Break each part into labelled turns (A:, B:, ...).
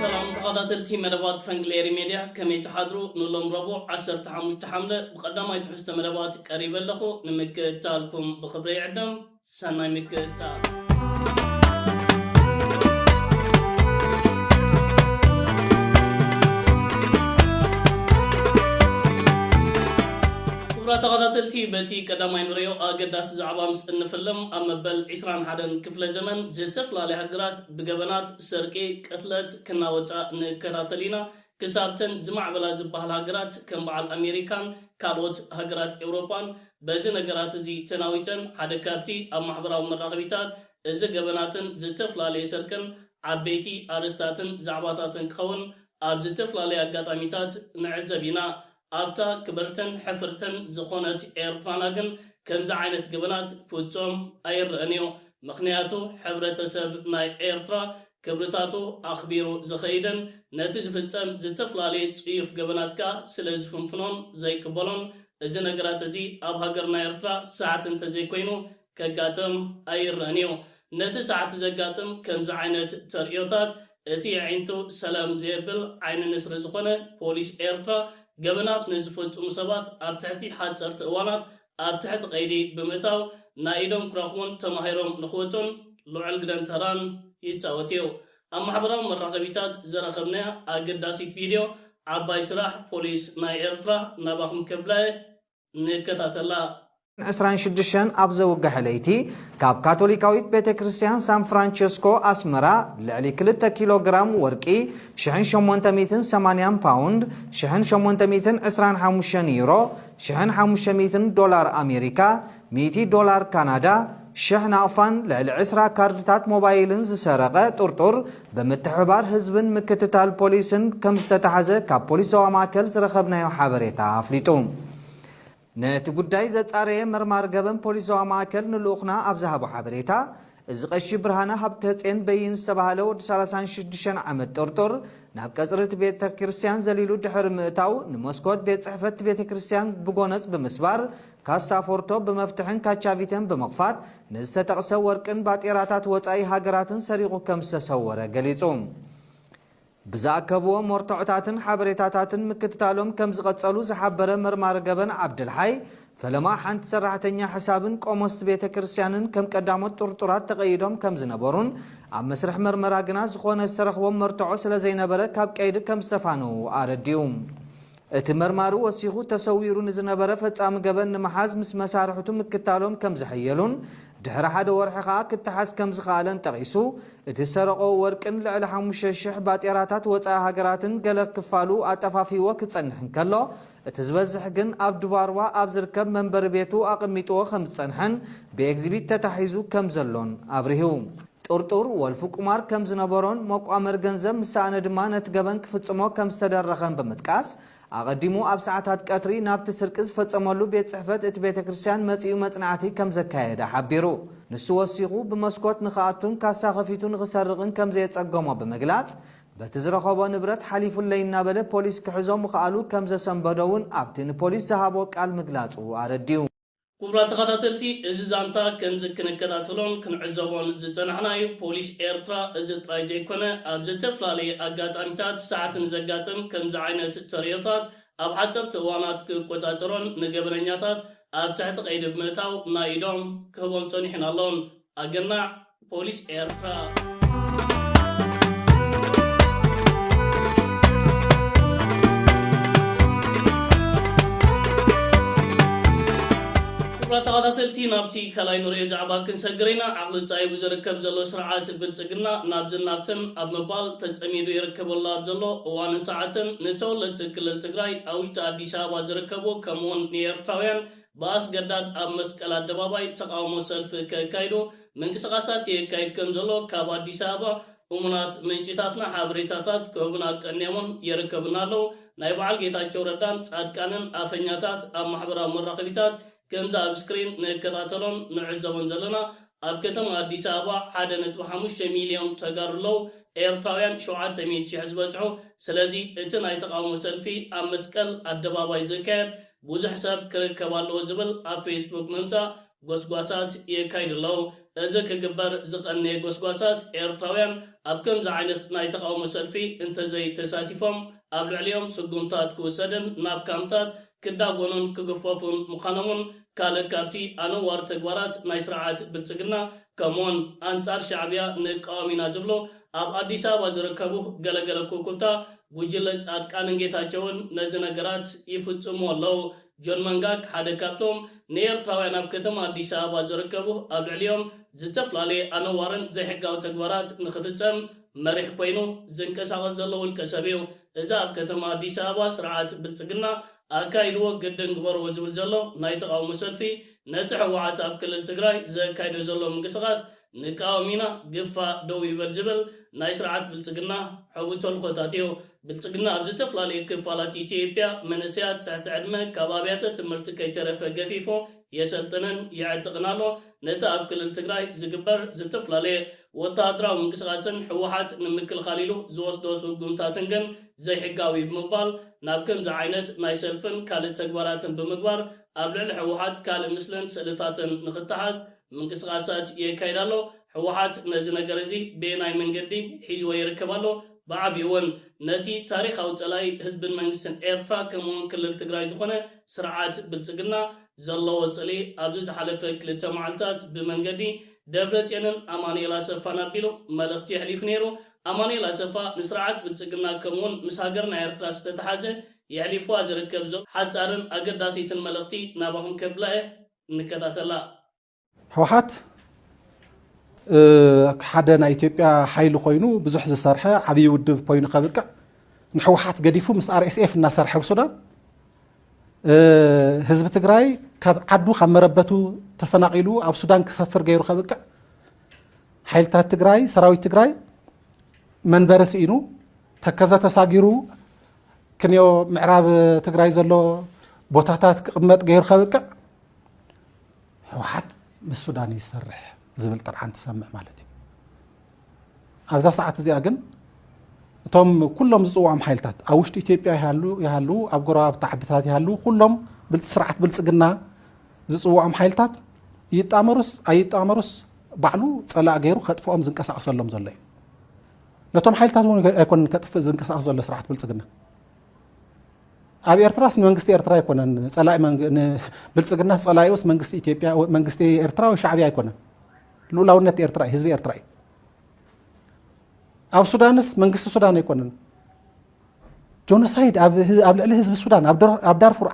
A: ሰላም ተኸታተልቲ መደባት ፈንግሌሪ ሜድያ ከመይ ትሓድሩ ንሎም ረቡዕ ዓሰርተ ሓሙሽተ ሓምለ ብቐዳማይ ትሕዝቶ መደባት ቀሪበ ኣለኹ ንምክእታልኩም ብኽብሪ ይዕደም። ሰናይ ምቅጻል ተኸታተልቲ በቲ ቀዳማይ ንሪኦ ኣገዳሲ ዛዕባ ምስ እንፍልም ኣብ መበል ዕስራን ሓደን ክፍለ ዘመን ዝተፈላለያ ሃገራት ብገበናት ሰርቂ ቅትለት ክናወጻ ንከታተል ኢና ክሳብተን ዝማዕበላ ዝበሃላ ሃገራት ከም በዓል ኣሜሪካን ካልኦት ሃገራት ኤውሮጳን በዚ ነገራት እዚ ተናዊጸን ሓደ ካብቲ ኣብ ማሕበራዊ መራኸቢታት እዚ ገበናትን ዝተፈላለየ ስርቅን ዓበይቲ ኣርእስታትን ዛዕባታትን ክኸውን ኣብ ዝተፈላለየ ኣጋጣሚታት ንዕዘብ ኢና። ኣብታ ክብርትን ሕፍርትን ዝኾነት ኤርትራና ግን ከምዚ ዓይነት ገበናት ፍጹም ኣይረእን እዩ። ምኽንያቱ ሕብረተሰብ ናይ ኤርትራ ክብርታቱ ኣኽቢሩ ዝኸይድን ነቲ ዝፍጸም ዝተፈላለየ ጽዩፍ ገበናት ከኣ ስለ ዝፍንፍኖን ዘይቅበሎን እዚ ነገራት እዚ ኣብ ሃገርና ኤርትራ ሰዓት እንተዘይኮይኑ ከጋጥም ኣይረእን እዩ። ነቲ ሰዓት ዘጋጥም ከምዚ ዓይነት ተርእዮታት እቲ የዒንቱ ሰለም ዘየብል ዓይኒ ንስሪ ዝኾነ ፖሊስ ኤርትራ ገበናት ንዝፍጽሙ ሰባት ኣብ ትሕቲ ሓጸርቲ እዋናት ኣብ ትሕቲ ቀይዲ ብምእታው ናይ ኢዶም ክረኽቡን ተማሂሮም ንኽወጹን ልዑል ግደን ተራን ይጻወት እዩ። ኣብ ማሕበራዊ መራኸቢታት ዘረከብናያ ኣገዳሲት ቪድዮ ዓባይ ስራሕ ፖሊስ ናይ ኤርትራ ናባኹም ከብላ'የ ንከታተላ። ዕስራን
B: ሽዱሽተን ኣብ ዘውግሐ ለይቲ ካብ ካቶሊካዊት ቤተ ክርስቲያን ሳን ፍራንቸስኮ ኣስመራ ልዕሊ ክልተ ኪሎ ግራም ወርቂ ሽሕን ሸሞንተ ሚእትን ሰማንያን ፓውንድ ሽሕን ሸሞንተ ሚእትን ዕስራን ሓሙሽተን ዩሮ ሽሕን ሓሙሽተ ሚእትን ዶላር ኣሜሪካ ሚእቲ ዶላር ካናዳ፣ ሽሕ ናቕፋን ልዕሊ ዕስራ ካርድታት ሞባይልን ዝሰረቐ ጥርጡር ብምትሕብባር ህዝብን ምክትታል ፖሊስን ከምዝተታሕዘ ካብ ፖሊስ ዞባ ማእከል ዝረኸብናዮ ሓበሬታ ኣፍሊጡ። ነቲ ጉዳይ ዘጻረየ መርማሪ ገበን ፖሊስ ዞባ ማእከል ንልኡኽና ኣብ ዝሃቦ ሓበሬታ፣ እዚ ቀሺ ብርሃነ ሃብተጼን በይን ዝተባህለ ወዲ ሰላሳን ሽዱሽተን ዓመት ጦርጦር ናብ ቀጽሪ እቲ ቤተ ክርስቲያን ዘሊሉ ድሕሪ ምእታው ንመስኮት ቤት ጽሕፈት እቲ ቤተ ክርስቲያን ብጎነጽ ብምስባር ካሳ ፎርቶ ብመፍትሕን ካቻቪተን ብምኽፋት ንዝተጠቕሰ ወርቅን ባጤራታት ወጻኢ ሃገራትን ሰሪቑ ከም ዝተሰወረ ገሊጹ። ብዝኣከብዎ መርትዖታትን ሓበሬታታትን ምክትታሎም ከምዝቐጸሉ ዝሓበረ መርማሪ ገበን ዓብደልሓይ፣ ፈለማ ሓንቲ ሰራሕተኛ ሕሳብን ቆሞስቲ ቤተ ክርስቲያንን ከም ቀዳሞት ጥርጡራት ተቐይዶም ከምዝነበሩን ኣብ መስርሕ መርመራ ግና ዝኾነ ዝተረኽቦም መርትዖ ስለዘይነበረ ካብ ቀይዲ ከምዝተፋነዉ ኣረዲኡ። እቲ መርማሪ ወሲኹ፣ ተሰዊሩ ንዝነበረ ፈጻሚ ገበን ንምሓዝ ምስ መሳርሕቱ ምክታሎም ከም ዝሐየሉን ድሕሪ ሓደ ወርሒ ከኣ ክተሓዝ ከም ዝኸኣለን ጠቒሱ፣ እቲ ዝሰረቖ ወርቅን ልዕሊ ሓሙሽተ ሽሕ ባጤራታት ወጻኢ ሃገራትን ገለ ክፋሉ ኣጠፋፊእዎ ክጸንሕ እንከሎ፣ እቲ ዝበዝሕ ግን ኣብ ዱባርዋ ኣብ ዝርከብ መንበሪ ቤቱ ኣቐሚጥዎ ከም ዝጸንሐን ብኤግዚቢት ተታሒዙ ከም ዘሎን ኣብሪሁ። ጥርጡር ወልፊ ቁማር ከም ዝነበሮን መቋመሪ ገንዘብ ምስ ሰኣነ ድማ ነቲ ገበን ክፍጽሞ ከም ዝተደረኸን ብምጥቃስ፣ ኣቐዲሙ ኣብ ሰዓታት ቀትሪ ናብቲ ስርቂ ዝፈጸመሉ ቤት ጽሕፈት እቲ ቤተ ክርስቲያን መጺኡ መጽናዕቲ ከም ዘካየደ ሓቢሩ። ንሱ ወሲኹ፣ ብመስኮት ንኽኣቱን ካሳ ከፊቱ ንኽሰርቕን ከም ዘየጸገሞ ብምግላጽ፣ በቲ ዝረኸቦ ንብረት ሓሊፉለይ እናበለ ፖሊስ ክሕዞ ምኽኣሉ ከም ዘሰንበዶ'ውን ኣብቲ ንፖሊስ ዝሃቦ ቃል ምግላጹ ኣረዲኡ። ኩቡራት
A: ተኻታተልቲ እዚ ዛንታ ከምዚ ክንከታተሎን ክንዕዘቦን ዝጸናሕና እዩ ፖሊስ ኤርትራ እዚ ጥራይ ዘይኮነ ኣብ ዘተፍላለየ ኣጋጣሚታት ሰዓት ንዘጋጥም ከምዚ ዓይነት ተርእዮታት ኣብ ሓጸርቲ እዋናት ክቆጻጸሮን ንገበነኛታት ኣብ ትሕቲ ቀይዲ ብምእታው ናይ ኢዶም ክህቦም ጸኒሑን ኣሎን። ኣገናዕ ፖሊስ ኤርትራ። ክቡራት ተኻታተልቲ ናብቲ ካልኣይ ንርእዮ ዛዕባ ክንሰግር ኢና። ዓቕሊ ጻይቡ ዝርከብ ዘሎ ስርዓት ብልጽግና ናብዝን ናብትን ኣብ ምባል ተጸሚዱ ይርከብ ኣሎ። ኣብ ዘሎ እዋንን ሰዓትን ንተወለድቲ ክልል ትግራይ ኣብ ውሽጢ ኣዲስ ኣበባ ዝርከቡ ከምኡውን ንኤርትራውያን ብኣስገዳድ ኣብ መስቀል ኣደባባይ ተቓውሞ ሰልፊ ከካይዱ ምንቅስቓሳት የካይድ ከምዘሎ ካብ ኣዲስ ኣበባ እሙናት ምንጪታትና ሓበሬታታት ክህቡና ኣቀንየሞም የረከቡና ኣለው። ናይ በዓል ጌታቸው ረዳን ጻድቃንን ኣፈኛታት ኣብ ማሕበራዊ መራኸቢታት ከምዚ ኣብ ስክሪን ንከታተሎን ንዕዘቦን ዘለና ኣብ ከተማ ኣዲስ ኣበባ ሓደ ነጥቢ ሓሙሽተ ሚልዮን ተጋሩ ኣለው ኤርትራውያን ሸውዓተ ሚእቲ ሽሕ ዝበጽሑ ስለዚ እቲ ናይ ተቓውሞ ሰልፊ ኣብ መስቀል ኣደባባይ ዝካየድ ብዙሕ ሰብ ክርከብ ኣለዎ ዝብል ኣብ ፌስቡክ ምምጻእ ጎስጓሳት የካይዱ ኣለዉ። እዚ ክግበር ዝቐነየ ጎስጓሳት ኤርትራውያን ኣብ ከምዚ ዓይነት ናይ ተቓውሞ ሰልፊ እንተዘይተሳቲፎም ኣብ ልዕሊኦም ስጉምታት ክውሰድን ናብ ካምፕታት ክዳጎኑን ክግፈፉን ምዃኖም'ውን ካልእ ካብቲ ኣነዋሪ ተግባራት ናይ ስርዓት ብልጽግና ከምኡ'ውን ኣንጻር ሻዕብያ ንቃወም ኢና ዝብሉ ኣብ ኣዲስ ኣበባ ዝርከቡ ገለገለ ኩብኩብታ ጉጅለ ፃድቃንን ጌታቸውን ነዚ ነገራት ይፍፅምዎ ኣለው። ጆን መንጋግ ሓደ ካብቶም ንኤርትራውያን ኣብ ከተማ ኣዲስ ኣበባ ዝርከቡ ኣብ ልዕሊኦም ዝተፈላለየ ኣነዋርን ዘይሕጋዊ ተግባራት ንኽፍፀም መሪሕ ኮይኑ ዝንቀሳቐስ ዘሎ ውልቀ ሰብ እዩ። እዚ ኣብ ከተማ ኣዲስ ኣበባ ስርዓት ብልፅግና ኣካይድዎ ግድን ግበርዎ ዝብል ዘሎ ናይ ተቓውሞ ሰልፊ ነቲ ህወሓት ኣብ ክልል ትግራይ ዘካይዶ ዘሎ ምንቅስቓስ ንቃዋሚና ግፋ ደው ይበል ዝብል ናይ ስርዓት ብልጽግና ሐዊ ተልኮታት እዩ። ብልጽግና ኣብ ዝተፈላለየ ክፋላት ኢትዮጵያ መንእሰያት ትሕቲ ዕድመ ካብ ኣብያተ ትምህርቲ ከይተረፈ ገፊፉ የሰልጥንን የዕጥቕን ኣሎ። ነቲ ኣብ ክልል ትግራይ ዝግበር ዝተፈላለየ ወተሃደራዊ ምንቅስቓስን ህወሓት ንምክልኻል ኢሉ ዝወስዶ ስጉምታትን ግን ዘይሕጋዊ'ዩ ብምባል ናብ ከምዚ ዓይነት ናይ ሰልፍን ካልእ ተግባራትን ብምግባር ኣብ ልዕሊ ህወሓት ካልእ ምስልን ስእልታትን ንኽተሓዝ ምንቅስቓሳት የካይድ ኣሎ። ህወሓት ነዚ ነገር እዚ በየናይ መንገዲ ሒዝዎ ይርከብ ኣሎ? ብዓቢኡ እውን ነቲ ታሪኻዊ ፀላኢ ህዝብን መንግስትን ኤርትራ ከምኡ እውን ክልል ትግራይ ዝኾነ ስርዓት ብልፅግና ዘለዎ ፅልኢ ኣብዚ ዝሓለፈ ክልተ መዓልታት ብመንገዲ ደብረፅዮንን ኣማኑኤል ኣሰፋን ኣቢሉ መልእኽቲ የሕሊፉ ነይሩ። ኣማኑኤል ኣሰፋ ንስርዓት ብልፅግና ከምኡ እውን ምስ ሃገርና ኤርትራ ዝተተሓዘ የሕሊፉዋ ዝርከብ ዘሎ ሓፃርን ኣገዳሲትን መልእኽቲ ናባኹም ከብላ እየ። ንከታተላ።
C: ህውሓት ሓደ ናይ ኢትዮጵያ ሓይሊ ኮይኑ ብዙሕ ዝሰርሐ ዓብዪ ውድብ ኮይኑ ከብቅዕ ንሕወሓት ገዲፉ ምስ ኣርኤስኤፍ እናሰርሐ ኣብ ሱዳን ህዝቢ ትግራይ ካብ ዓዱ ካብ መረበቱ ተፈናቂሉ ኣብ ሱዳን ክሰፍር ገይሩ ከብቅዕ ሓይልታት ትግራይ ሰራዊት ትግራይ መንበሪ ስኢኑ ተከዘ ተሳጊሩ ክንዮ ምዕራብ ትግራይ ዘሎ ቦታታት ክቕመጥ ገይሩ ከብቅዕ ህወሓት ምስ ሱዳን ይሰርሕ ዝብል ጥርዓን ትሰምዕ ማለት እዩ ኣብዛ ሰዓት እዚኣ ግን እቶም ኩሎም ዝፅዋዖም ሓይልታት ኣብ ውሽጢ ኢትዮጵያ ይሃሉ ኣብ ጎረባብቲ ዓድታት ይሃሉ ኩሎም ስርዓት ብልፅግና ዝፅዋዖም ሓይልታት ይጣመሩስ ኣይጣመሩስ ባዕሉ ፀላእ ገይሩ ከጥፍኦም ዝንቀሳቀሰሎም ዘሎ እዩ ነቶም ሓይልታት እውን ኣይኮነን ከጥፍእ ዝንቀሳቐስ ዘሎ ስርዓት ብልፅግና ኣብ ኤርትራስ ንመንግስቲ ኤርትራ ኣይኮነን ፀላኢ ብልፅግናስ ፀላኢኡስ መንግስቲ ኢትዮጵያ መንግስቲ ኤርትራ ወይ ሻዕብያ ኣይኮነን ልኡላውነት ኤርትራ እዩ ህዝቢ ኤርትራ እዩ ኣብ ሱዳንስ መንግስቲ ሱዳን ኣይኮነን ጆኖሳይድ ኣብ ልዕሊ ህዝቢ ሱዳን ኣብ ዳርፉር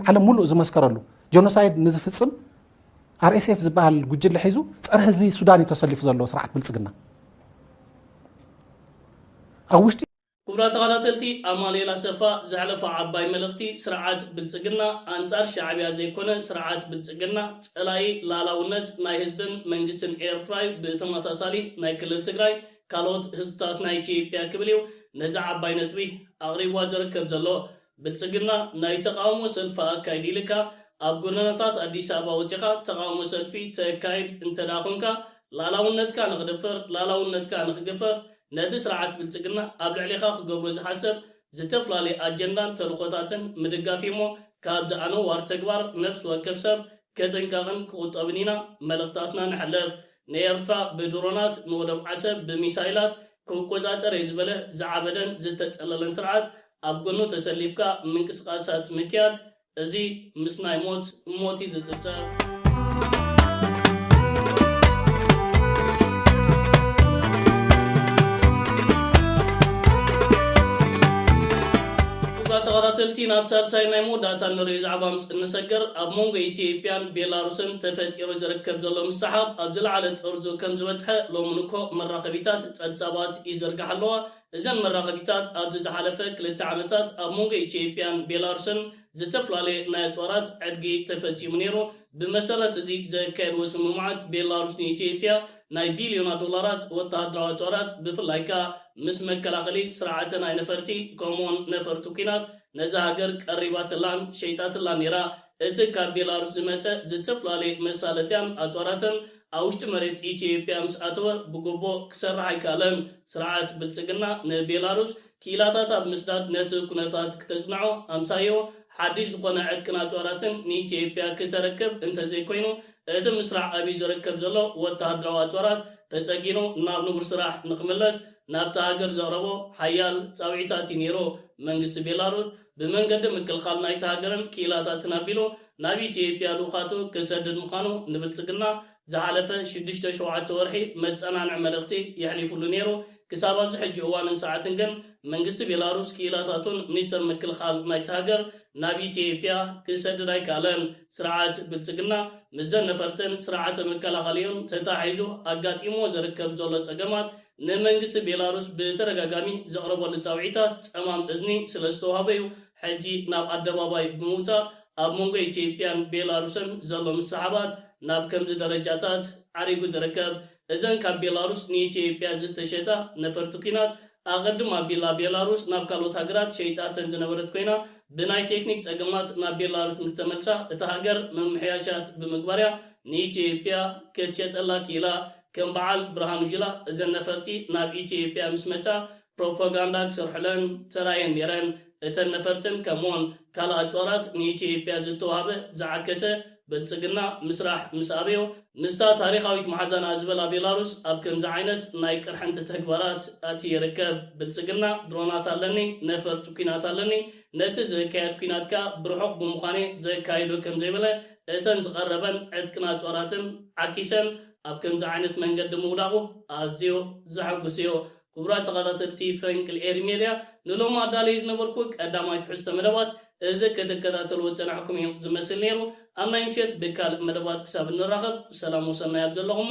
C: ዓለም ሙሉእ ዝመስከረሉ ጆኖሳይድ ንዝፍፅም RSF ዝበሃል ጉጅለ ሒዙ ፀረ ህዝቢ ሱዳን እዩ ተሰሊፉ ዘሎ ስርዓት ብልፅግና ኣብ ውሽጢ ክቡራት ተኸታተልቲ
A: ኣማኑኤል ኣሰፋ ዘሕለፎ ዓባይ መልእኽቲ ስርዓት ብልፅግና ኣንፃር ሻዕቢያ ዘይኮነ ስርዓት ብልፅግና ፀላኢ ላላውነት ናይ ህዝብን መንግስትን ኤርትራ ዩ ብተመሳሳሊ ናይ ክልል ትግራይ ካልኦት ህዝብታት ናይ ኢትዮጵያ ክብል ዩ ነዛ ዓባይ ነጥቢ ኣቕሪብዋ ዝርከብ ዘሎ ብልጽግና ናይ ተቓውሞ ሰልፊ ኣካይድ ኢልካ ኣብ ጎደናታት ኣዲስ ኣበባ ወጺኻ ተቓውሞ ሰልፊ ተካይድ እንተድኣ ኮንካ ላላውነትካ ንኽድፈር ላላውነትካ ንኽግፈፍ ነቲ ስርዓት ብልጽግና ኣብ ልዕሌኻ ክገብሮ ዝሓሰብ ዝተፍላለየ ኣጀንዳን ተልኾታትን ምድጋፍዩሞ ካብዚ ኣነዋር ተግባር ነፍሲ ወከፍ ሰብ ክጥንቀቕን ክቑጠብን ኢና መልእኽታትና ነሕልፍ። ንኤርትራ ብድሮናት ንወደብ ዓሰብ ብሚሳይላት ክቆጻጸርየ ዝበለ ዝዓበደን ዝተጸለለን ስርዓት ኣብ ጎኑ ተሰሊፍካ ምንቅስቃሳት ምክያድ እዚ ምስ ናይ ሞት ሞት እዩ ዝጽብጸብ። ክቡራት ተኸታተልቲ ናብ ሳልሳይ ናይ መወዳእታ እንርእዩ ዛዕባ ምስ እንሰገር ኣብ መንጎ ኢትዬጵያን ቤላሩስን ተፈጢሩ ዝርከብ ዘሎ ምስሕሓብ ኣብ ዝለዓለ ጥርዙ ከም ዝበጽሐ ሎሚ ንግሆ መራኸቢታት ጸብጻባት ይዝርግሓ ኣለዋ። እዘን መራኸቢታት ኣብዚ ዝሓለፈ ክልተ ዓመታት ኣብ መንጎ ኢትዮጵያን ቤላሩስን ዝተፈላለየ ናይ ኣጽዋራት ዕድጊ ተፈጺሙ ነይሩ፣ ብመሰረት እዚ ዘካየድዎ ስምምዓት ቤላሩስ ንኢትዮጵያ ናይ ቢልዮናት ዶላራት ወተሃደራዊ ኣጽዋራት ብፍላይ ከኣ ምስ መከላኸሊ ስርዓተ ናይ ነፈርቲ ከምኡ'ውን ነፈርቲ ኲናት ነዛ ሃገር ቀሪባትላን ሸይጣትላን ነይራ። እቲ ካብ ቤላሩስ ዝመጸ ዝተፈላለየ መሳለጥያን ኣጽዋራትን ኣብ ውሽጢ መሬት ኢትዮጵያ ምስ ኣተወ ብጉቦ ክሰርሕ ኣይከኣለን። ስርዓት ብልጽግና ንቤላሩስ ክኢላታት ኣብ ምስዳድ ነቲ ኩነታት ክተጽንዖ፣ ኣምሳዮ ሓድሽ ዝኾነ ዕጥቅን ኣጽዋራትን ንኢትዮጵያ ክተረክብ እንተዘይኮይኑ እቲ ምስራዕ ኣብዩ ዘረከብ ዘሎ ወተሃደራዊ ኣጽዋራት ተጸጊኑ ናብ ንቡር ስራሕ ንክምለስ ናብታ ሃገር ዘቕረቦ ሓያል ጻውዒታት እዩ ነይሩ። መንግስቲ ቤላሩስ ብመንገዲ ምክልኻል ናይታ ሃገርን ክኢላታትን ኣቢሉ ናብ ኢትዮጵያ ልኡኻቱ ክሰድድ ምዃኑ ንብልጽግና ዝሓለፈ ሽዱሽተ ሸውዓተ ወርሒ መጸናንዒ መልእኽቲ የሕሊፍሉ ነይሩ። ክሳብ ኣብዚ ሕጂ እዋንን ሰዓትን ግን መንግስቲ ቤላሩስ ክኢላታቱን ሚኒስተር ምክልኻል ናይታ ሃገር ናብ ኢትዮጵያ ክሰድድ ኣይከኣለን። ስርዓት ብልጽግና ምስዘን ነፈርትን ስርዓተ መከላኸሊኡን ተተሓሒዙ ኣጋጢምዎ ዝርከብ ዘሎ ጸገማት ንመንግስቲ ቤላሩስ ብተደጋጋሚ ዘቕረበሉ ጻውዒታት ጸማም እዝኒ ስለ ዝተዋህበ'ዩ ሕጂ ናብ ኣደባባይ ብምውጻእ ኣብ መንጎ ኢትዮጵያን ቤላሩስን ዘሎ ምስሕሓባት ናብ ከምዚ ደረጃታት ዓሪጉ ዝርከብ። እዘን ካብ ቤላሩስ ንኢትዮጵያ ዝተሸጣ ነፈርቲ ኲናት ኣቐድም ኣቢላ ቤላሩስ ናብ ካልኦት ሃገራት ሸይጣተን ዝነበረት ኮይና ብናይ ቴክኒክ ጸገማት ናብ ቤላሩስ ምስ ተመልሳ እታ ሃገር ምምሕያሻት ብምግባር'ያ ንኢትዮጵያ ክትሸጠላ ክኢላ። ከም በዓል ብርሃኑ ጁላ እዘን ነፈርቲ ናብ ኢትዮጵያ ምስ መጻ ፕሮፖጋንዳ ክሰርሑለን ተራእየን ነይረን። እተን ነፈርትን ከምኡውን ካልእ ኣጽዋራት ንኢትዮጵያ ዝተዋህበ ዝዓከሰ ብልጽግና ምስራሕ ምስ ኣበዮ፣ ምስታ ታሪኻዊት መሓዛና ዝበላ ቤላሩስ ኣብ ከምዚ ዓይነት ናይ ቅርሕንቲ ተግባራት ኣትዩ ይርከብ። ብልጽግና ድሮናት ኣለኒ፣ ነፈርቲ ኲናት ኣለኒ፣ ነቲ ዝካየድ ኲናት ከኣ ብርሑቕ ብምዃን'የ ዘካይዶ ከም ዘይበለ፣ እተን ዝቐረበን ዕጥቅን ኣጽዋራትን ዓኪሰን ኣብ ከምዚ ዓይነት መንገዲ ምውዳቑ ኣዝዩ ዘሐጉስ እዩ። ክቡራት ተኸታተልቲ ፈንቅል ኤሪ ሜድያ ንሎሚ ኣዳልየዮ ዝነበርኩ ቀዳማይ ትሕዝቶ መደባት እዚ ክትከታተልዎ ዝጸናሕኩም እዩ ዝመስል ነይሩ። ኣብ ናይ ምሸት ድካልእ መደባት ክሳብ እንራኸብ ሰላም ወሰናይ ኣብ ዘለኹሞ።